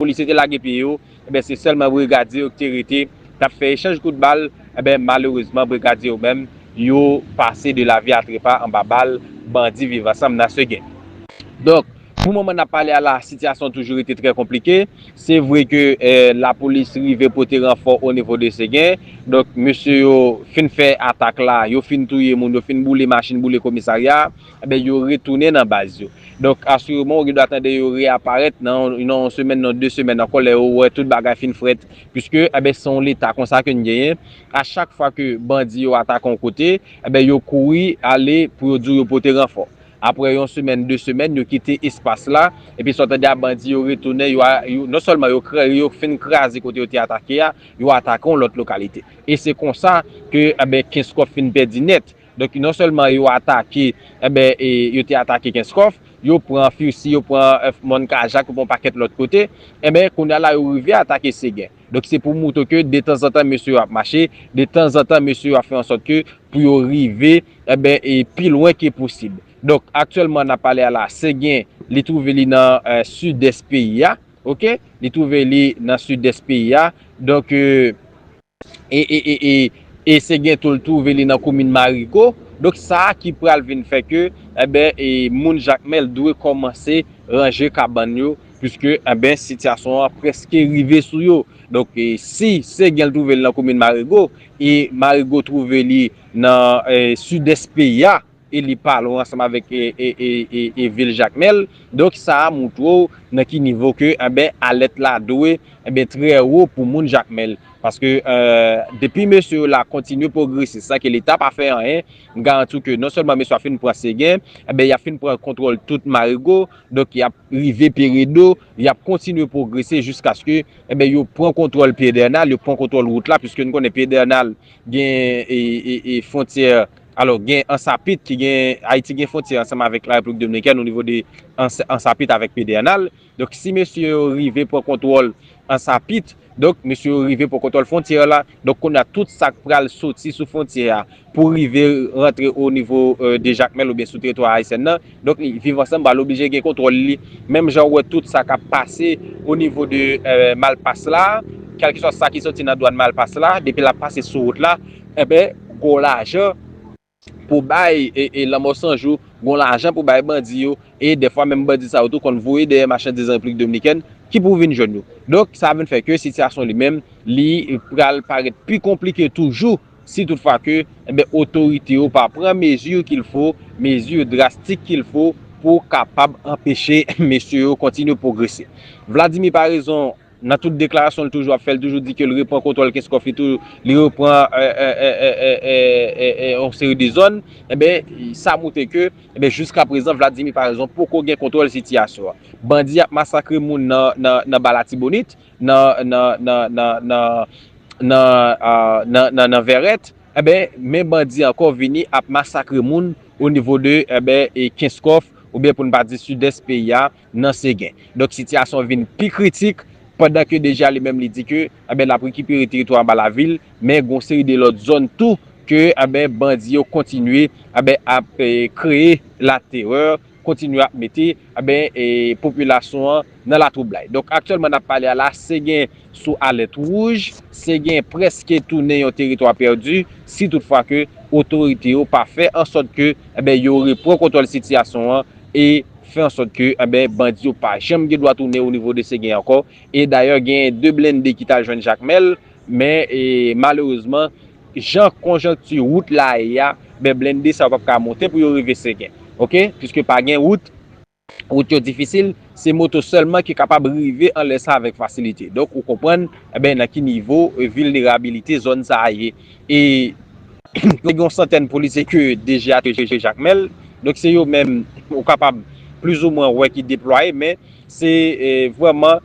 Polisye te lage pye yo, enben se sèlman brigadye yo ki te rete, t ap fè echanj kout bal, enben malerezman brigadye yo menm, yo pase de lavi a trepa anba bal bandi Viv Ansanm nan Seguin. Donk, pou moman n ap pale a la, sitiyasyon an toujou rete trè konplike. Se vre ke lapolis rive pote ranfò onivo de Seguin, donk mesye yo fin fè atak la, yo fin touye moun, yo fin boule machin, boule komisarya, Enben, yo retounen nan baz yo. Donk, asireman ou gen dwa tande yo reyaparèt nan yon semèn, nan de semèn ankò lè yo wè tout bagay fin frèt. Piske, enben, se yon Leta konsa ke n genyen. A chak fwa ke bandi yo atake yon kote, enben, yo kouri ale pou yo di w yo pote ranfò. Apre yon semèn, de semèn, yo kite espas la. Epi sa w tande a, bandi yo retounen, yo, yo, non sèlman yo kra, yo fin kraze kote yo te atake a, yo atake yon lòt lokalite. E se konsa ke, enben, Kenskòf fin pèdi nèt. Donk non sèlman yo atake, enben e yo te atake Kenskòf, yo pran Fursi, yo pran Mòn Kajak, yo pran yon pakèt lòt kote, enben kounye a la yo rive atake Segen. Donk se pou moutre ke detanzantan mesye yo ap mache, detanzantan mesye yo ap fè ansòt ke pou yo rive, enben e pi lwen ke posib. Donk aktyèlman n ap pale a la, Segen li twouve li nan sidès peyi a, ok, li twouve li nan sidès peyi a, donk e. E e e e e se gen tou l twouve li nan komin Marigo. Donk sa a ki pral vin fè ke enben e moun Jakmèl dwe kòmanse ranje kabann yo puiske enben sitiyasyon an prèske rive sou yo. Donk e si se gen l twouve li nan komin Marigo e Marigo twouve li nan e sidès peyi a, e li pa lwen ansanm avèk e vil Jakmèl, donk sa a moutre w nan ki nivo ke anben alèt la dwe anben trè wo pou moun Jakmèl, paske depi mesye yo la kontinye pwogresis san ke leta pa fè anyen, m garanti w ke non sèlman mesye yo ap fin pran Segen, anben y ap fin pran kontwòl tout Marigo, donk y ap rive Peredo, y ap kontinye pwogrese jiskaske anben yo pran kontwòl Pyedènal, yo pran kontwòl wout la, piske n konnen Pyedènal gen fwontyè. Alò, gen Ansapit ki gen, Ayiti gen fwontyè ansanm avèk La Repiblik Dominikèn o nivo de Ansapit avèk Pedènal. Donk, si mesye yo rive pran kontwòl Ansapit, donk, mesye yo rive pran kontwòl fwontyè la. Donk, kounye a, tout sa k pral soti sou fwontyè a pou rive rantre o nivo de Jakmèl oubyen sou teritwa ayisyen nan, Donk li viv ansanm ba l oblije gen kontwòl li menm jan ou wè tout sa k ap pase o nivo de malpas la kèlkeswa sa ki soti nan dwàn malpas la depi l ap pase sou wout la enben gon lajan pou bay e lanmò san jou gon lajan pou bay bandi yo e dèfwa menm bandi sa yo tou konn voye dèyè machandiz an repiblik dominikèn ki pou vin jwenn yo donk sa vin fè ke sitiyasyon li menm li pral parèt pi konplike toujou. Si tout fwa ke, enben otorite yo pa pran mezi kil fo, mezi drastik kil fo pou kapab anpeche mesye yo kontinye pwogrese. Vladimir pa rezon nan tout deklarasyon li toujou ap fè, li toujou di ke li repran kontwòl Kenskòf, li tou, li repran yon seri de zòn, enben sa moutre ke, enben jiska prezan Vladimir pa rezon poko gen kontwòl sitiyasyon an. Bandi ap masakre moun nan ba Latibonit, nan nan nan nan nan nan nan nan nan vèrèt enben men bandi ankò vini ap masakre moun o nivo de enben e kenskòf oubyen pou n pa di sidès peyi a nan segen donk sitiyasyon vin pi kritik pandan ke deja li menm li di ke enben l ap rekipere teritwa anba lavil men gon seri de lòt zòn tou ke enben bandi yo kontinye enben ap kreye laterè kontinye ap mete enben popilasyon an nan latwoublay. Donk aktyèlman n ap pale a la Segen sou alèt wouj, Segen prèske tounen yon teritwa pèdi si tout fwa ke otorite yo pa fè ansòt ke enben yo repran kontwòl sitiyasyon an e fè ansòt ke enben bandi yo pa janm gen dwa tounen onivo de Segen ankò e dayè genyen 2 blende ki t al jwenn Jakmèl Men, malerezman, jan konjonkti wout la ye a, ben blende sa yo pap ka monte pou yo rive Segen. Ok? Piske pa gen wout, wout yo difisil, se moto sèlman ki kapab rive anlè sa avèk fasilite. Donk, ou konprann, ben nan ki nivo vilnerabilite zòn sa a ye. E, te gen yon santèn polisye ke DG a te jere Jakmèl. Donk, se yo menm ou kapab plizoumwen wè ki deplwaye, men se vrèman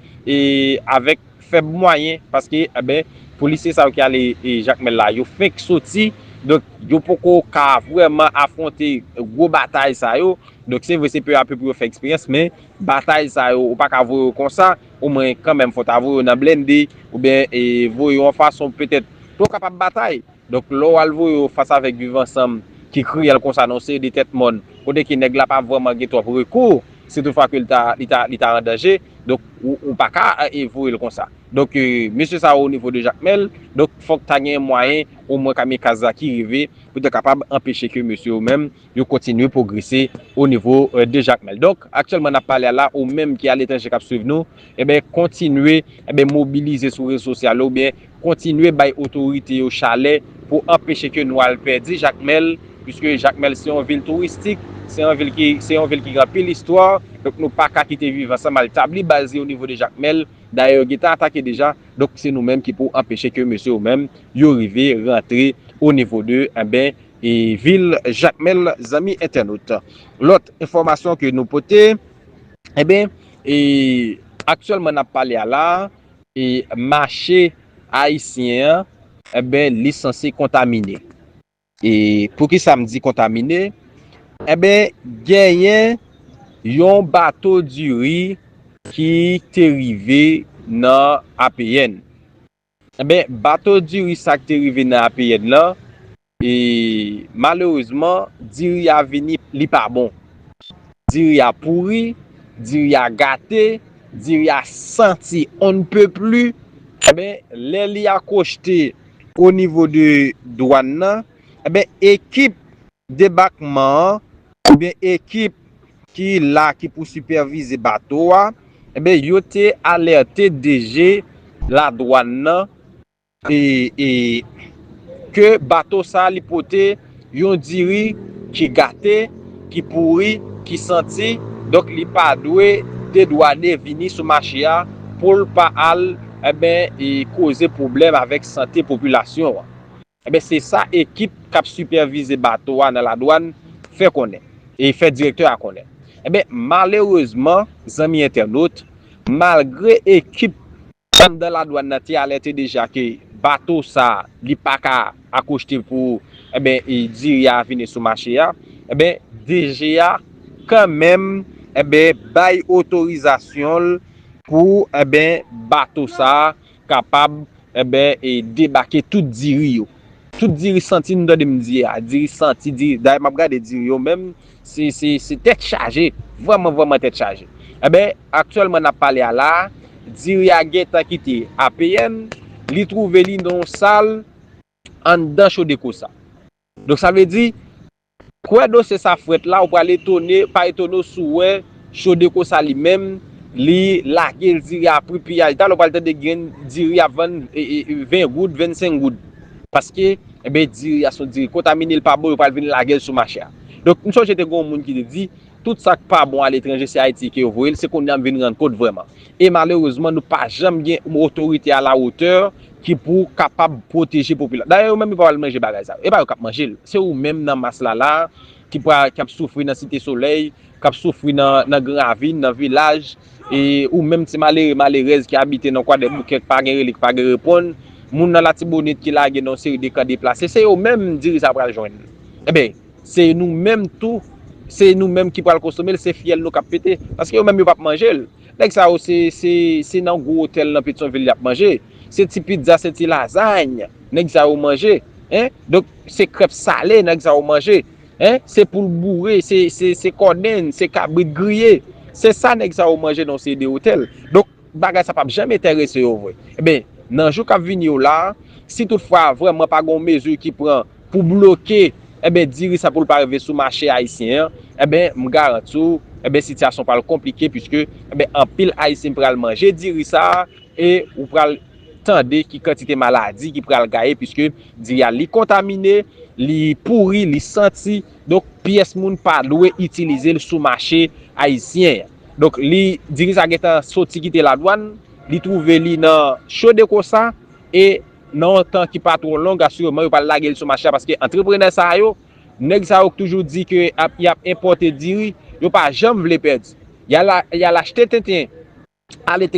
avèk fèb mwayen paske enben polisye sa yo ki ale Jakmèl la yo fenk soti donk yo poko ka vrèman afwonte gwo batay sa yo donk se vre se peu a peu pou yo fè eksperyans men batay sa yo ou pa ka voye yo konsa o mwen kanmenm fò ta voye yo nan blende oubyen voye yo yon fason petèt pou yo kapab batay donk lè w al voye yo fas avèk viv ansanm ki kriyèl konsa nan yon seri de tèt mòn kote ke nèg la pa vrèman gen twòp rekou si tout fwa ke li ta li ta an danje. Donk ou pa ka voye l konsa. Donk mesye sa yo o nivo de Jakmèl, donk fòk ta gen mwayen o mwen kamikaz la ki rive pou ta kapab anpeche ke mesye yo menm yo kontinye pwogrese o nivo de Jakmèl. Donk aktyèlman n ap pale a la, ou menm ki aletranje k ap swiv nou, enben kontinye mobilize sou rezo sosyal ou byen kontinye bay otorite yo chalè pou anpeche ke nou al pèdi Jakmèl, puiske Jakmèl se yon vil touristik, se yon vil ki, se yon vil ki gen anpil istwa, donk nou pa ka kite Viv Ansanm al tabli baz li o nivo de Jakmèl, dayè yo gentan atake deja, donk se nou menm ki pou anpeche ke mesye yo menm yo rive rantre o nivo de, enben, e vil Jakmèl zanmi entènot. Lòt enfòmasyon ke nou pote, enben, e aktyèlman n ap pale a la a, e mache ayisyen an enben li sanse kontamine e poukisa m di kontamine enben genyen yon bato diri ki te rive nan APN enben bato diri sa ki te rive nan APN lan E malerezman diri a vini li pa bon. Diri a pouri, diri a gate, diri a santi on ne peut plus. Enben, lè li akochte o nivo de dwàn nan, enben ekip debakman an oubyen ekip ki la ki pou sipèvize bato a, enben yo te alète DG ladwàn nan e ke bato sa li pote yon diri ki gate, ki pouri, ki santi, donk li pa dwe dedwane vini sou mache a pou l pa al enben koze pwoblèm avèk sante popilasyon an. Enben se sa ekip k ap sipèvize bato a nan ladwann fè konnen, e fè direktè a konnen. Enben malerezman zanmi entènot, malgre ekip Anndan ladwann nan te alète deja ke bato sa li pa ka akochte pou enben diri a vini sou mache a, enben DG a kanmenm enben bay otorizasyon l pou enben bato sa kapab enben debake tout diri yo. Tout diri santi nou tande m di a, diri santi, diri, dayè map gade diri yo menm, se, se, se tèt chaje, vrèman, vrèman tèt chaje. Enben, aktyèlman nap pale a la, diri a gentan kite APN, li twouve li nan yon sal anndan Chodeco sa. Donk sa vle di, Kwè dosye sa frèt la ou pral etone pa etone w si w wè Chodeco sa li menm li lage l diri a pri piyaj talè w pral tande gen diri ap vann 20 goud 25 goud paske enben diri a se yon diri kontamine li pa bon yo pral vin lage l sou mache a donk m sonje te gen yon moun ki te di tout sa k pa bon aletranje se Ayiti ke yo voye l se kounye a m vin rann kont vrèman e malerezman nou pa janm gen otorite a la wotè Ki pou kapab pwoteje popilasyon. Dayè yo menm yo pa pral manje bagay sa yo. E pa yo k ap manje l. Se ou menm nan mas la la a ki pra, ki ap soufri nan Site Solèy, k ap soufri nan, nan Gran Ravin, nan vilaj. E ou menm ti malere, malerèz ki abite nan Kwadèboukè k pa gen rele, k pa gen reponn. Moun nan Latibonit ki lage nan yon seri de kan deplase. Se yo menm diri sa a pral jwenn. Enben, se nou menm tou, se nou menm ki pral konsome l, se fyèl nou k ap pete. Paske yo menm yo p ap manje l. Nèg sa yo se se se nan gwo otèl nan Petyonvil y ap manje. Se ti pizza, se ti lazayn nèg sa yo manje. Hein? Donk, se krèp sale nèg sa yo manje. Hein? Se poul boure, se se se kòdenn, se kabrit griye. Se sa nèg sa yo manje nan yon seri de otèl. Donk, bagay sa p ap janm enterese yo vre. Enben, nan jou k ap vini yo la a, si tout fwa vrèman pa gen yon mezi ki pran, pou bloke enben diri sa pou l pa rive sou mache ayisyen an enben m garanti w enben sitiyasyon pral konplike puiske enben anpil ayisyen pral manje diri sa e ou pral tande ki kantite maladi ki pral gaye puiske diri a li kontamine li pouri li santi donk pyès moun pa dwe itilize l sou mache ayisyen an donk li diri sa gentan soti kite ladwann li twouve li nan chodekosa e. Nan yon tan ki pa twò long, asireman yo pral lage l sou mache a paske antreprenè sa yo, nèg sa yo k toujou di ke y ap enpòte diri, yo pa janm vle pèdi. Y al achte tenten aletranje.